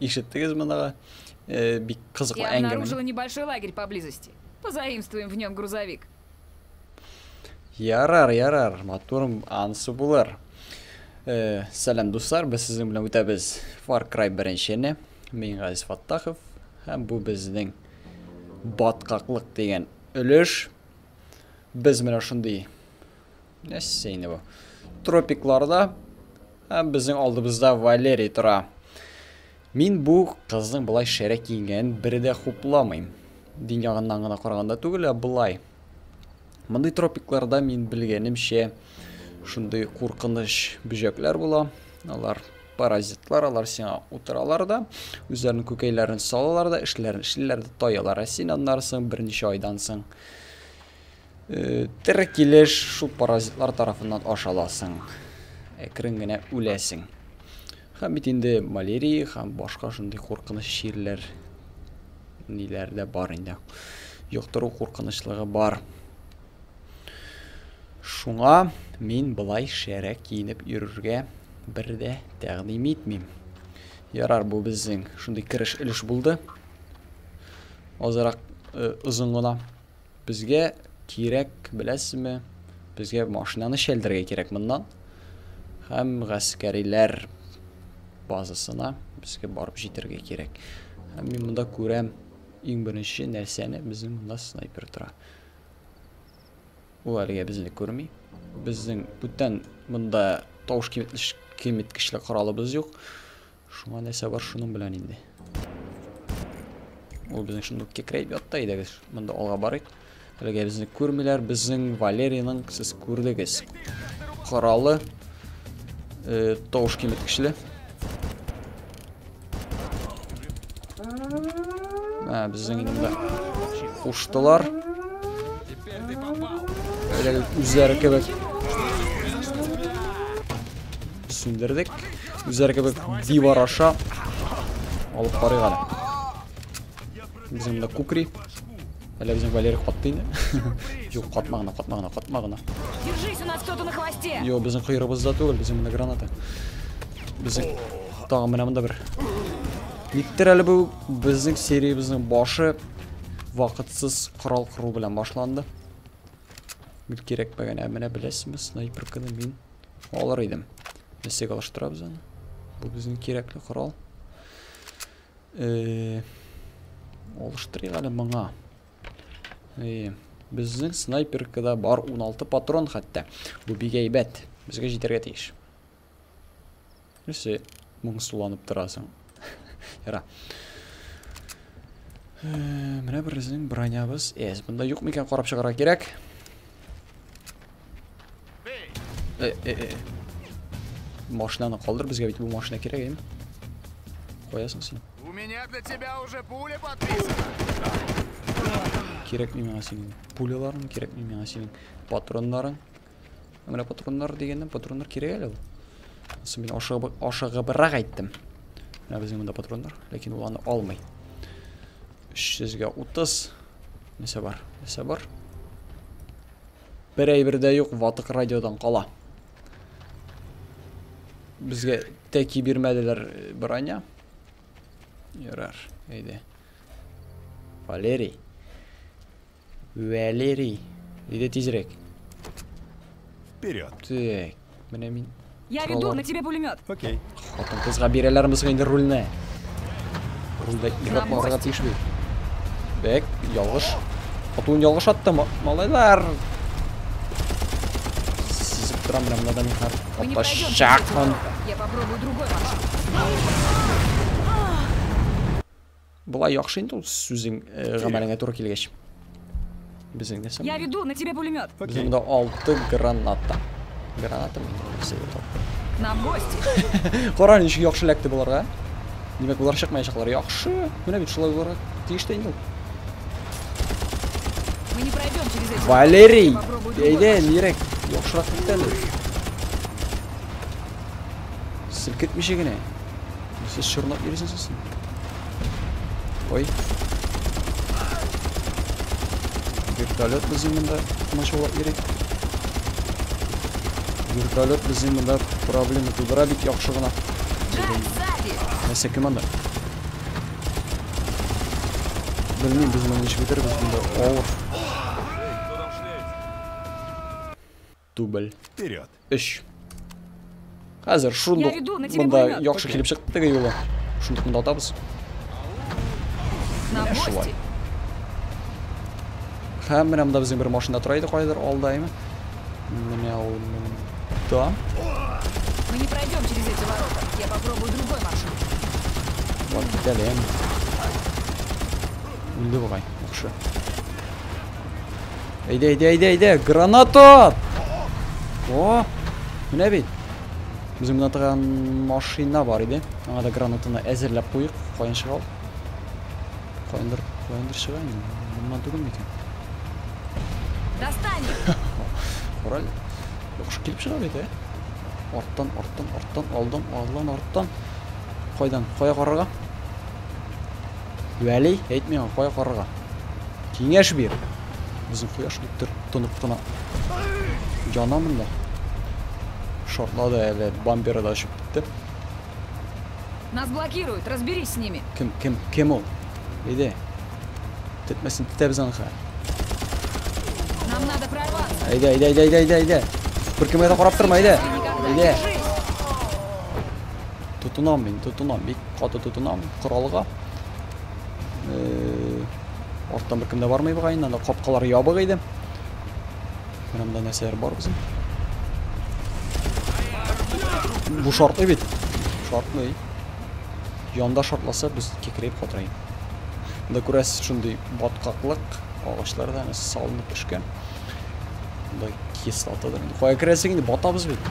Ишеттегезме дагы? Э, бик кызыклы әңгәмә. Я обнаружила небольшой лагерь поблизости. Позаимствуем в нем грузовик. Ярар, ярар, матурым ансы булыр. Э, сәлам дуслар, без сезнең белән үтәбез Far Cry 1-не. Мин Газиз Фаттахов һәм бу безнең баткаклык дигән өлеш. Без менә шундый нәрсә инде бу? Тропикларда Һәм безнең алдыбызда Валерий тора. Мин бу кызның былай шәрә киенгәнен бер дә хупламыйм. Дин ягыннан гына караганда түгел, ә былай. Мондый тропикларда мин белгәнемчә шундый куркыныч бөҗәкләр була. Алар паразитлар, алар сиңа утыралар да, үзләренең күкәйләрен салалар да, эшләрен эшлиләр дә, таялар. Ә син аннары соң берничә айдан соң Э, тере килеш шул паразитлар тарафыннан ашаласың. Әкрен генә үләсең. Һәм бит инде малярия һәм башка шундый куркыныч чирләр ниләр дә бар инде. Йоктыру куркынычлыгы бар. Шуңа мин былай шәрәк киенеп йөрергә бер дә тәкъдим итмим. Ярар, бу безнең шундый кереш өлеш булды. Азрак э, озын гына. Безгә кирәк, беләсезме? Безгә машинаны шәлдергә кирәк моннан. Һәм гаскәриләр базасына безгә барып җитәргә кирәк. Һәм мин монда күрәм иң беренче нәрсәне безнең монда снайпер тора. Ул әлегә безне күрми. Безнең бүтән монда тавыш киметкечле коралыбыз юк. Шуңа нәрсә бар шуның белән инде. Ул безнең шунда кекрәйп ятта идегез. Монда алга барыйк. Әлегә безне күрмиләр. Безнең Валерийның сез күрдегез. Коралы э, тавыш киметкечле. Ә, безнең инде монда куштылар. Әле үзләре кебек Сүндердек. Үзләре кебек дивар аша алып карыйк әле. Без монда кукри. Әле безнең Валерий катты инде. Юк, катма гына, катма гына, катма гына. Держись, у нас кто-то на хвосте. Йо, безнең кыйрыбызда түгел, безнең менә граната. Безнең тагы менә монда бер. Никтер әле бу безнең сериябезнең башы вакытсыз корал кыру белән башланды. Бик кирәкмәгән, ә менә беләсезме, снайперканы мин Алыр идем. Эсек алыштырабыз аны. Бу безнең кирәкле корал. Э, алыштырыйк әле моңа. Э, безнең снайперкада бар 16 патрон хәтта. Бу бик әйбәт. Безгә җитәргә тиеш. Нәрсә моңсуланып торасың? Яра. Э, менә берсенең бронябыз. Эс, бында юк микән карап чыгарга кирәк. Э, э, э. Машинаны калдыр, безгә бит бу машина кирәк, әйме? Куясың син. У меня для тебя уже пуля подписана. Кирәкми миңа синең пуляларың, кирәкми миңа синең патроннарың. Ә менә патроннар дигәннән патроннар кирәк әле ул. Асы мин ашыгып ашыгыбрак әйттем. Менә безнең монда патроннар, ләкин ул аны алмый. 330 нәрсә бар? Нәрсә бар? Бер әйбер дә юк, ватык радиодан кала. Безгә тәки бирмәделәр э, броня. Ярар, әйдә. Валерий. Валерий. Иди тизрәк. Вперед. Так. Менә мин. Я веду, на тебе пулемет. Окей. Хатын кызга бирәләрме соң инде рульне? Рульдә ирап барырга тиеш бит. Бәк, ялгыш. Хатун ялгыш атты, малайлар. Сизеп торам менә монда мехар. Атачакмын. Я попробую другой маршрут. Болай яхшы инде ул сүзең э, гамәлеңә туры килгәч. Безнең нәрсә? Я веду на тебя пулемет. Безнең дә 6 граната. Граната мине На мосте. Кара ничек яхшы ләкте боларга. Димәк, болар чыкмаячаклар. Яхшы. Менә бит шулай буларак тиеш тә инде. Мы не пройдем через эти. Валерий, әйдә, нирәк? Яхшырак кит әле. Селкетмичә генә. Сез чорнап йөрисез сез. Ой. Вертолет безнең монда машалап йөри. Вертолет безнең монда проблема тудыра бит яхшы гына. Нәрсә кем анда? Белмим, без моны ничек бетербез монда. Авыр. Дубль. Вперед. Өч. Хәзер шундук монда яхшы килеп чыкты теге юлы. Шундук монда атабыз. Менә шулай. Һәм менә монда безнең бер машина тора иде кайдыр алда, әйме? Менә ул монда. Мы не пройдем через эти ворота. Я попробую другой маршрут. Вот, китәлем. Үлде бугай, яхшы. Әйдә, әйдә, әйдә, әйдә, граната! О, менә бит. Без монда торган машина бар иде. Аңа да гранатаны әзерләп куйык. Каян чыга ул? Каяндыр, каяндыр чыга инде. Моннан түгел микән? Достань! Кораль. Яхшы килеп чыга бит, ә? Арттан, арттан, арттан, алдан, алдан, арттан. Кайдан? Кая карарга? Вәли, әйт миңа, кая карарга? Киңәш бир. Безнең кояш киттер тынып кына. Яна монда. Шартлады әле, бампера да очып китте. Нас блокируют, разберись с ними. Кем, кем, кем ул? Иде. Тетмәсен тетәбез анха. Нам надо прорваться. Әйдә, әйдә, әйдә, әйдә, әйдә, әйдә. Бер кемгә дә карап торма, әйдә. Әйдә. тотынам мин тотынам бик каты тотынам коралга арттан беркем дә бармый бугай инде анда капкалар ябык иде менә монда нәрсәләр бар безнең бу шартлый бит шартлый янда шартласа без кекрәеп катырый монда күрәсез шундый баткаклык агачлар да салынып төшкән монда кислотадан кая керәсең инде батабыз бит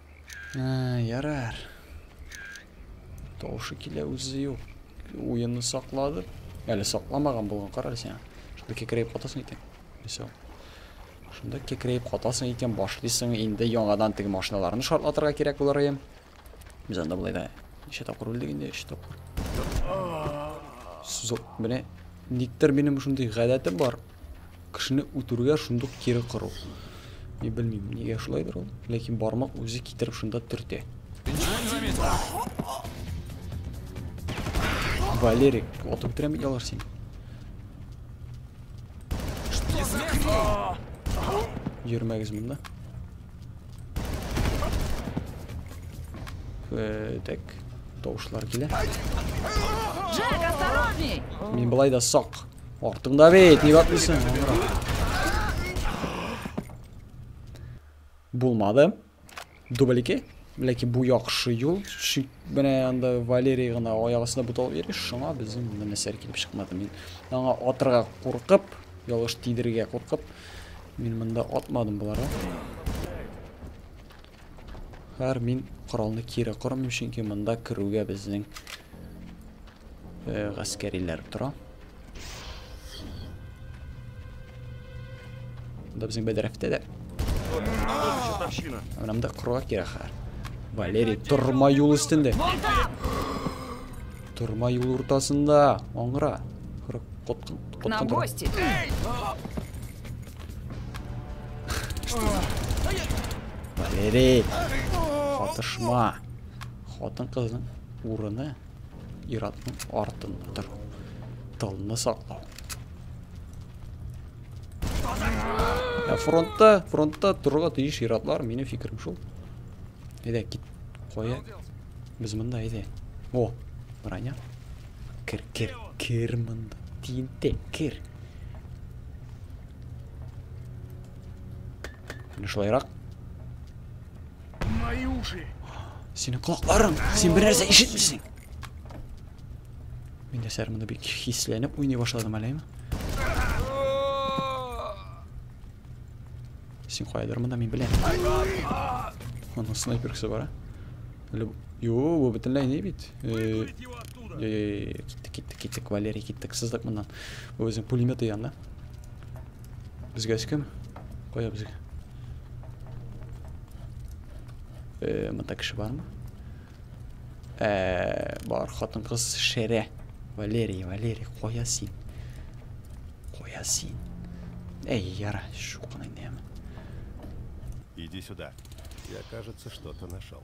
Ярар. Тавышы килә үзе юк. Уенны саклады. Әле сакламаган булган карар сиңа. Шунда кекрәеп катасың икән. Мисал. Шунда кекрәеп катасың икән, башлыйсың инде яңадан теге машиналарны шартлатырга кирәк булыр ием. Без анда болай да ничә тапкыр үлдек инде, өч тапкыр. Сузып, менә никтер минем шундый гадәтем бар. кешене үтерүгә шундук кире кыру. Ни белмим, нигә шулайдыр ул, ләкин бармак үзе китереп шунда төртә. Валерик, отып бетерәм бит алар син. Йөрмәгез монда. Э, так, тавышлар килә. Джек, осторожней! Мин былай да сак. Korktum da be. Niye bakmışsın? Bulmadım. Dubl 2. Ләкин бу яхшы юл, шик менә анда Валерий гына аягысына бутал йөри, шуңа безнең монда нәрсәләр килеп чыкмады. Мин аңа атырга куркып, ялгыш тидергә куркып, мин монда атмадым боларга. Хәр мин коралны кире кормыйм, чөнки монда керүгә безнең Э, гаскәриләр тора. Монда безнең бәдрәфтә дә. Менә монда кроа кирәк хәр. Валерий, торма юл өстендә. Торма юл уртасында. Аңгыра. Коткан, коткан. На гости. Валерий, катышма. Хатын кызның урыны Иратның артында тору. Тылны саклау. Ә фронтта, фронтта торырга тиеш иратлар, минем фикерем шул. Әйдә, кит. Кая? Без монда әйдә. О, броня. Кер, кер, кер монда. Тинте, кер. Менә шулайрак. Мои уши. Синең колакларың, син бер нәрсә ишетмисең. Мин дә сәрмәдә бик хисләнеп уйный башладым әле. Син кайдыр монда мин беләм. Аны снайпер кесе бара. Әле Йо, бу бөтенләй не бит. Э, киттек, киттек, киттек, Валерий, киттек, сыздык моннан. Бу безнең пулеметы янда. Безгә кем? Кая безгә? Э, монда кеше бармы? Э, бар, хатын кыз шәрә. Валерий, Валерий, кая син? Кая син? Эй, яра, шуканы нәме. Иди сюда. Я, кажется, что-то нашел.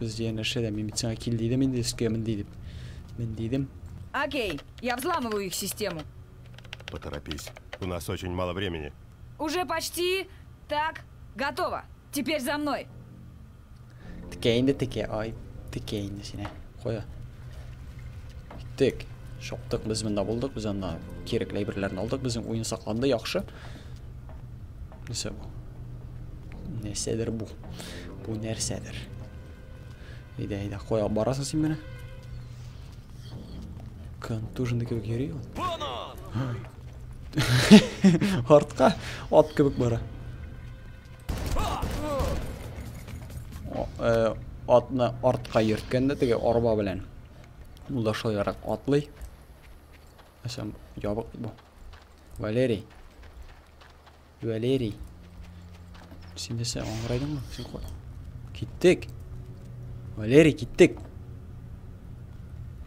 Без янәшә дә, мин бит сиңа кил дидем инде өскә мен ди дип. Мен дидем. Окей, я взламываю их систему. Поторопись, у нас очень мало времени. Уже почти, так, готово. Теперь за мной. Текә инде текә, ай, текә инде сине. Куя. Тек. Шоктык, без монда булдык, без анда кирәкле әйберләрне алдык, безнең уен сакланды, яхшы. Нәрсә бу? Нәрсәдер бу. Бу нәрсәдер? Әйдә, әйдә, кой алып барасың син менә. Контуженный кебек йөри ул. Артка ат кебек бара. Э, атны артка йөрткәндә теге арба белән. Ул да шулайрак атлый. Әсәм ябык бу. Валерий. Валерий. Син нәрсә, аңгырайдыңмы? Син кой. Киттек. Валерий, киттек.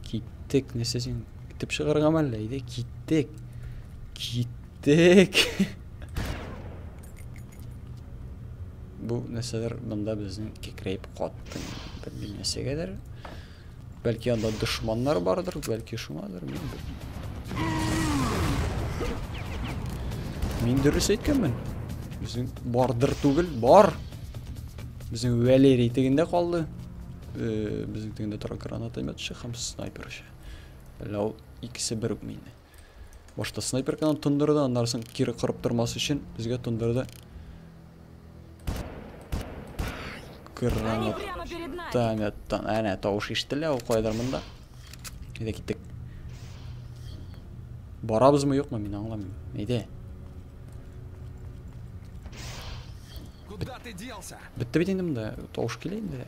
Киттек. Нәрсә син итеп чыгарга мәллә иде? Киттек. Киттек. Бу нәрсәләр монда безнең кекрәйп катты. Бер нәрсәгәдер. Бәлки анда дошманнар бардыр, бәлки шуңадыр, мин белмим. Мин дөрес әйткәнмен. Безнең бардыр түгел, бар. Безнең Валерий тегендә калды. Э, безнең тегендә тора гранатометчы һәм снайперчы. Ләү икесе бер үк мине. Башта снайперканы тондырды, аннары соң кире кырып тормас өчен безгә тондырды. Гранат. Таметтан. Әнә тавыш ишетелә ул кайдыр монда. Әйдә киттек. Барабызмы юкмы мин аңламыйм. Әйдә. Куда ты делся? Бетте бит инде монда. Тавыш килә инде.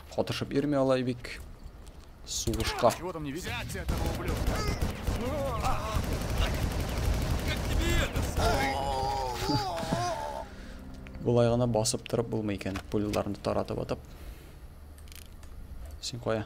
Катышып йөрми алай бик. Сугышка. Чего там не видно? Болай гына басып торып булмый икән, пуляларны таратып атып. Син кая?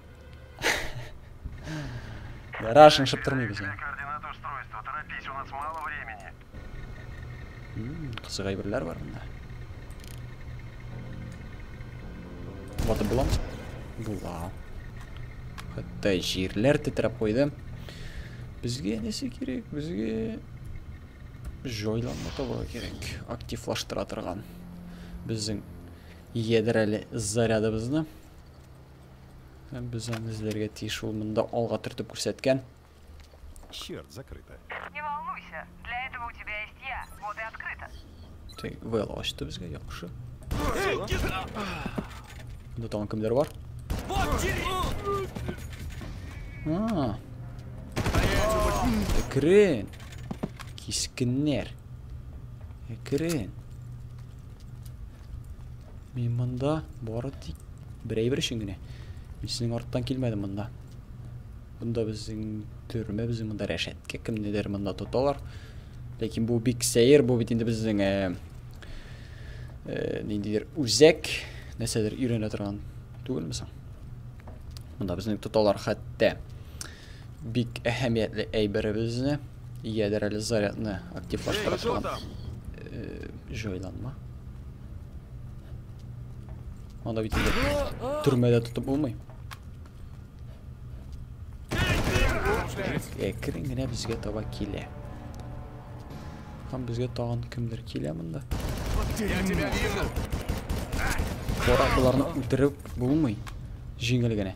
Рашен шептырмый без аны. Кызык әйберләр бар монда. Вата булам. Була. Хәтта җирләр тетрәп куйды. Безгә нәрсә кирәк? Безгә җайланма табарга кирәк. Активлаштыра торган. Безнең ядрәле зарядыбызны. Һәм без аны эзләргә тиеш, ул монда алга төртеп күрсәткән. Черт, закрыто. Не волнуйся, для этого у тебя есть я. Вот и открыто. Тик вел ачты безгә яхшы. Монда тагын кемдер бар? А. Крен. Кискеннәр. Крен. Мин монда бары тик бер әйбер өчен генә. Мин сезнең арттан килмәдем монда. Монда безнең төрмә, безнең монда рәшәткә, кемнедер монда тоталар. Ләкин бу бик сәер, бу бит инде безнең э, э, ниндидер үзәк, нәрсәдер өйрәнә торган түгелме соң? Монда безнең тоталар хәтта. бик әһәмиятле әйберебезне, ядер әле зарядны активлаштыра торган җайланма. Анда бит төрмәдә тотып булмый. Әкрен генә безгә таба килә. Һәм безгә тагын кемдер килә монда. Кора буларны үтереп булмый. Җиңел генә.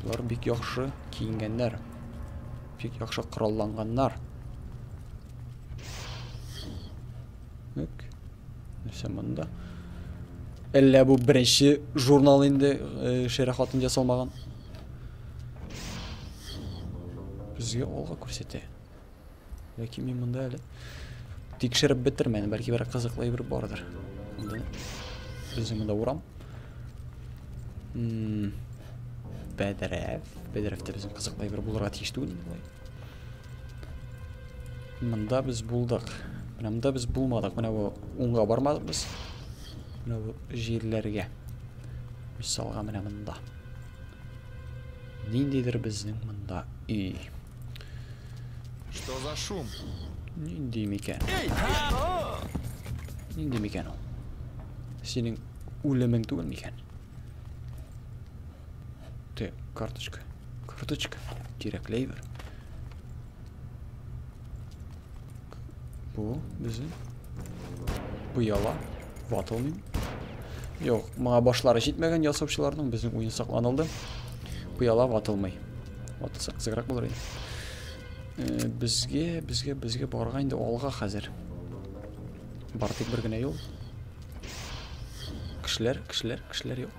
Болар бик яхшы киенгәннәр. Бик яхшы коралланганнар. Үк. Нәрсә монда? Әллә бу беренче журнал инде э, шәрә хатын ясалмаган. Безгә алга күрсәтә. Ләкин мин монда әле тикшереп бетермәдем, бәлки берәр кызыклы әйбер бардыр. Монда безнең монда урам. Бәдрәф, бәдрәфтә безнең кызыклы әйбер булырга тиеш түгел инде болай. Монда без булдык. Менә монда без булмадык. Менә бу уңга бармадык без. Менә бу җирләргә. Мисалга менә монда. Ниндидер безнең монда өй. Что за шум? Нинди микән? Нинди микән ул? Синең үлемең түгел микән? Ты, карточка. Карточка. Кирәкләй бер. Bu bizi ояла. Ватылмыйм. Юк, моңа башлары җитмәгән ясаучыларның безнең уен сакланылды. Пыяла ватылмый. Ватылса кызыграк булыр иде. Э, безгә, безгә, безгә барга инде алга хәзер. Бар тик бер генә юл. Кешеләр, кешеләр, кешеләр юк.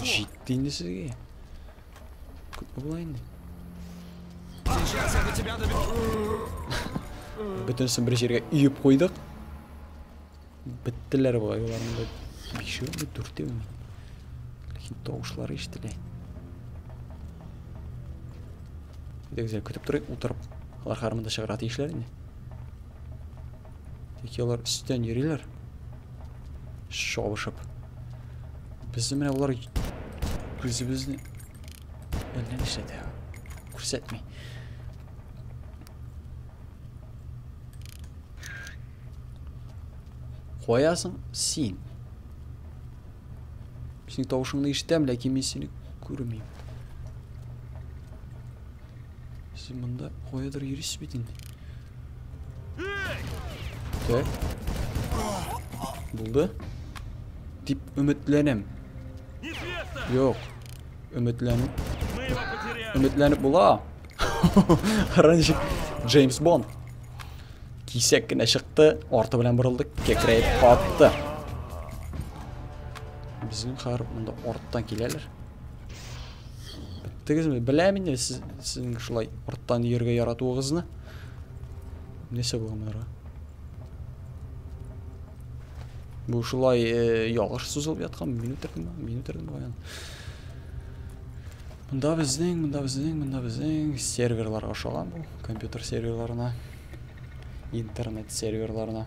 Җитте инде сезгә. Күпме була инде? Сейчас я до тебя доберусь. Бөтенесен бер җиргә өеп куйдык. Беттеләр болай болар монда. Бишеүме, дүртеүме? Ләкин тавышлары ишетелә. Дегезләр көтеп торыйк, утырып. Алар хармында чыгарга тиешләр инде. Тик алар өстен йөриләр. Шабышып. Без менә алар күзебезне әллә нишләтә. Күрсәтми. Каясың син? Синең тавышыңны ишетәм, ләкин мин сине күрмим. Син монда каядыр йөрисез бит инде. Тә. Булды. Дип өметләнәм. Юк. Өметләнеп. Өметләнеп була. Ранчик Джеймс Бонд. Кисәк кенә чыкты, арты белән борылды, кекрәеп катты. Безнең хәр монда арттан киләләр. Беттегезме? Беләм инде сез, сезнең шулай арттан йөрергә яратуыгызны. Нәрсә булган монарга? Бу шулай э, ялгыш сузылып яткан минут төрдем, минут төрдем баян. Монда безнең, монда безнең, монда безнең серверлар ашаган бу, компьютер серверларына, интернет серверларына.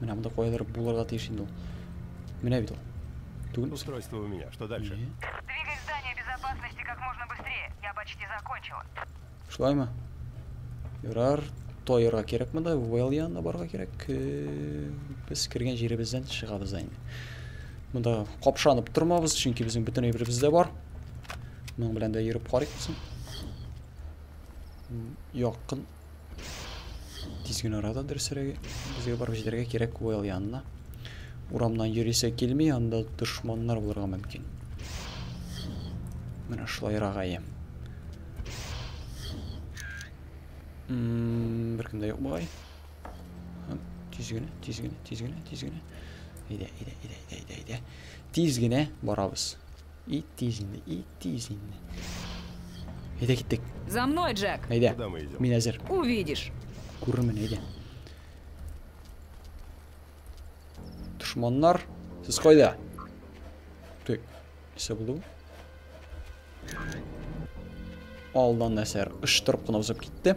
Менә монда каядыр булырга тиеш инде ул. Менә бит ул. Түгел. Устройство у меня. Что дальше? Двигай здание безопасности как можно быстрее. Я почти закончила. Шулаймы? Ярар, тоерга кирәк монда, Уэлл янына барырга кирәк. Без кергән җиребездән чыгабыз инде. Монда капшанып тормабыз, чөнки безнең бөтен әйберебез дә бар. Моның белән дә йөреп карыйк соң. Якын Тиз генә арада дөресрәге. Безгә барып җитәргә кирәк Куэл янына. Урамнан йөрисә килми, анда дошманнар булырга мөмкин. Менә шулайрак әйе. Беркем дә юк бугай. Тиз генә, тиз генә, тиз генә, тиз генә. Әйдә, әйдә, әйдә, әйдә, әйдә. Тиз генә барабыз. И тиз инде, и тиз инде. Әйдә киттек. За мной, Джек. Әйдә. Куда мы идем? Мин әзер. Увидишь. Күрермен, әйдә. Дошманнар, сез кайда? Тик, нәрсә булды? Алдан нәрсә, ыштырып кына узып китте.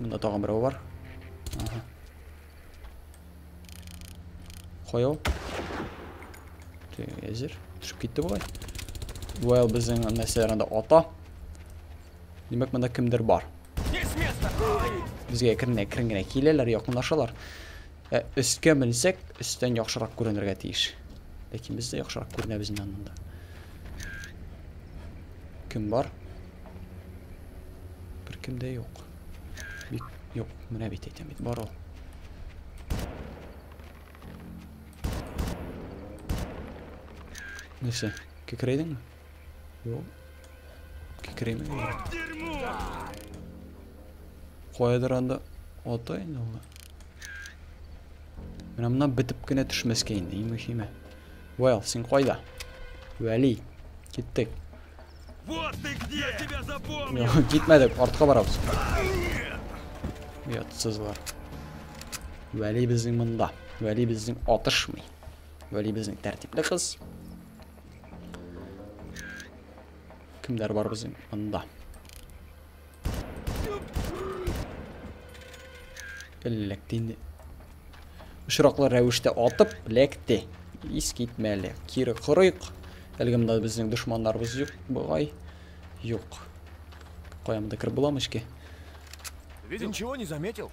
Монда тагын берәү бар. Ага. Кая ул? Әзер. Төшеп китте болай. Well, безнең нәрсәләр анда ата. Димәк, монда кемдер бар. Безгә керенә керен генә киләләр, якынлашалар. Ә өскә менсәк, өстән яхшырак күренергә тиеш. Ләкин без дә яхшырак күренәбез инде монда. Кем бар? Беркем дә юк. Бик юк, менә бит әйтәм бит, бар ул. Нәрсә, кекрәйдеңме? Юк. Кекрәймәгән. Каядыр анда ата инде ул. Менә моннан бетеп кенә төшмәскә инде, иң мөһиме. Вайл, син кайда? Вәли, киттек. Вот ты где! Я тебя запомнил! Китмәдек, артка барабыз. Ятсыз бар. Вәли безнең монда. Вәли безнең атышмый. Вәли безнең тәртипле кыз. Кемдәр бар безнең монда? Эләкте инде. Очраклы рәвештә атып, ләкте. Ис китмәле. Кире кырыйк. Әлеге монда безнең дошманнарыбыз юк, бугай. Юк. Кая монда кереп буламы эчке? Видел? Ничего не заметил.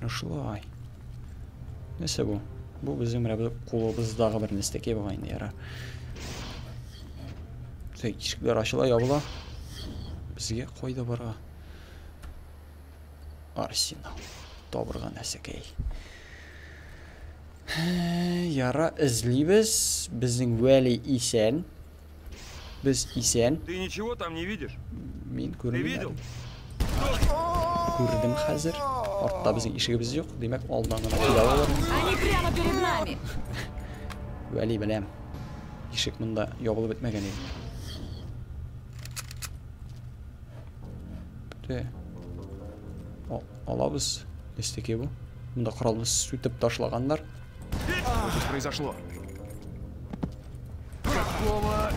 Ну шулай. Нәрсә бу? Бу безнең менә бер кулыбыздагы бер нәрсәкәй бугай инде яра. Тик ишекләр ачыла ябыла. Безгә кайда барга? Арсенал. Табырга нәрсәкәй. Яра эзлибез. Безнең Вәли исән. Без исән. Ты ничего там не видишь? Мин күрмим. Күрдем хәзер. Артта безнең ишегебез юк. Димәк, алдан гына килә алалар. Они прямо перед нами. Вәли беләм. Ишек монда ябылып бетмәгән иде. Бите. Алабыз. Эстеке бу. Монда коралны сүтеп ташлаганнар. Что здесь произошло? Какого...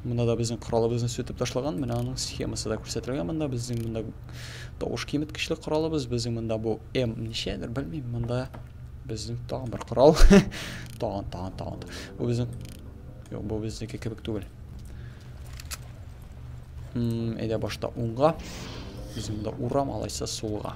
Мына да безнең коралыбызны сүтеп ташлаган. Менә аның схемасы да күрсәтелгән монда. Безнең монда тавыш киметкечле коралыбыз. Безнең монда бу М ничәдер, белмим. Монда безнең тагын бер корал. тагын, тагын, тагын. Бу безнең Юк, бу безнеке кебек түгел. Әйдә башта уңга. Безнең монда урам алайса сулга.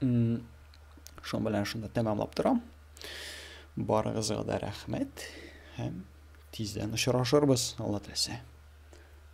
Шуның белән шунда тәмамлап торам. Барыгызга да рәхмәт һәм тиздән очрашырбыз, Алла теләсә.